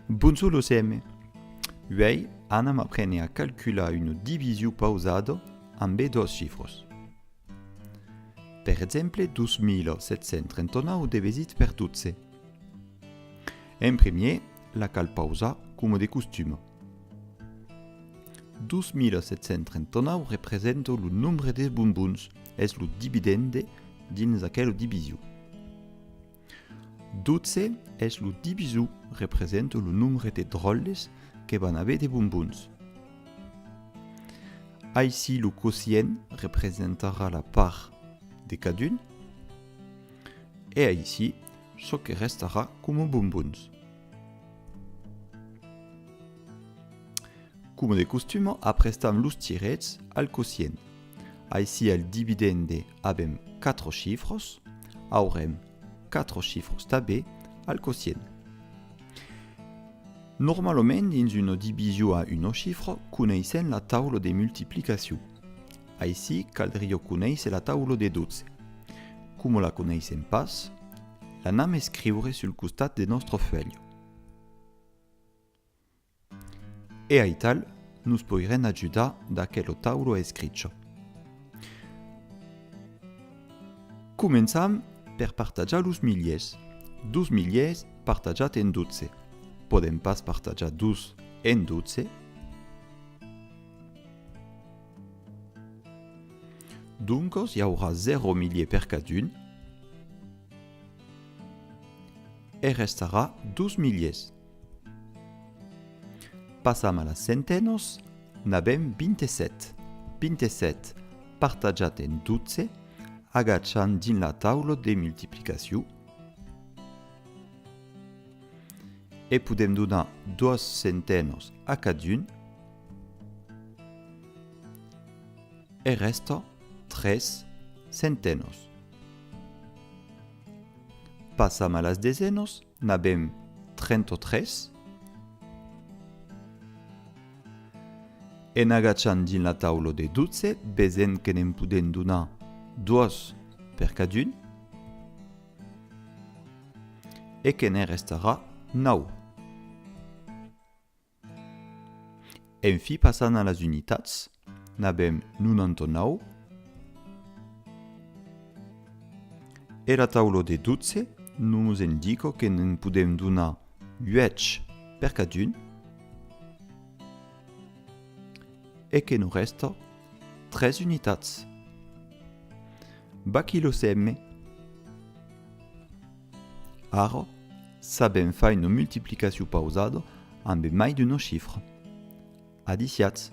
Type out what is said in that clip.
Bonjor los M. Uèi anam aprene a calcular una division pausada ambe dos chifros. Per exemple 2739 devesit per 12. En premier la cal pausar coma de costuma. 2739 representa lo nombre des bonbons, es lo dividende dins aquela division. 12 es lo divisor representa lo nombre de dròlles que van aver de bombons. Aicí lo quocient representarà la part de cadun e aicí çò que restarà coma bombons. Coma de costuma aprestam los tirets al quocient. Aicí al dividende Avèm 4 chifròs, aurem 4 chifròs tabé al quocient. Normalament dins una division a uno chifro coneissèm la taula de multiplicacion. Aicí caldrió conéisser la taula de 12. Coma la coneissèm pas, l'anam escriure sul costat de nòstre fuèlh. E aital nos poirèn ajudar d'aquel o tauro a escricher. Començam per partajar los miliers. Dos miliers partajat en 12. Podèm pas partajar dos en 12. Doncos i aurà 0 milier per cadun. E restarà dos miliers. Passam a las centenos, n'avèm 27. 27 partajat en 12, agachant dins la taula de multiplicacion, e podèm donar dos centenos a cadun, e rèsta 3 centenos. Passam a las desenos. N'avèm 33. En agachant dins la taula de 12, vesèm que ne'n podèm donar doas per cadun e que ne'n restarà nau. En fi passant a las unitats, n'avèm 99, era taula de 12 nos endica que ne'n podèm donar 8 per cadun e que nos rèsta 3 unitats. Baquilhosèm-me! Ara, sabèm fai una multiplicacion pausada ambe mai d'una chifra. Adiciatz!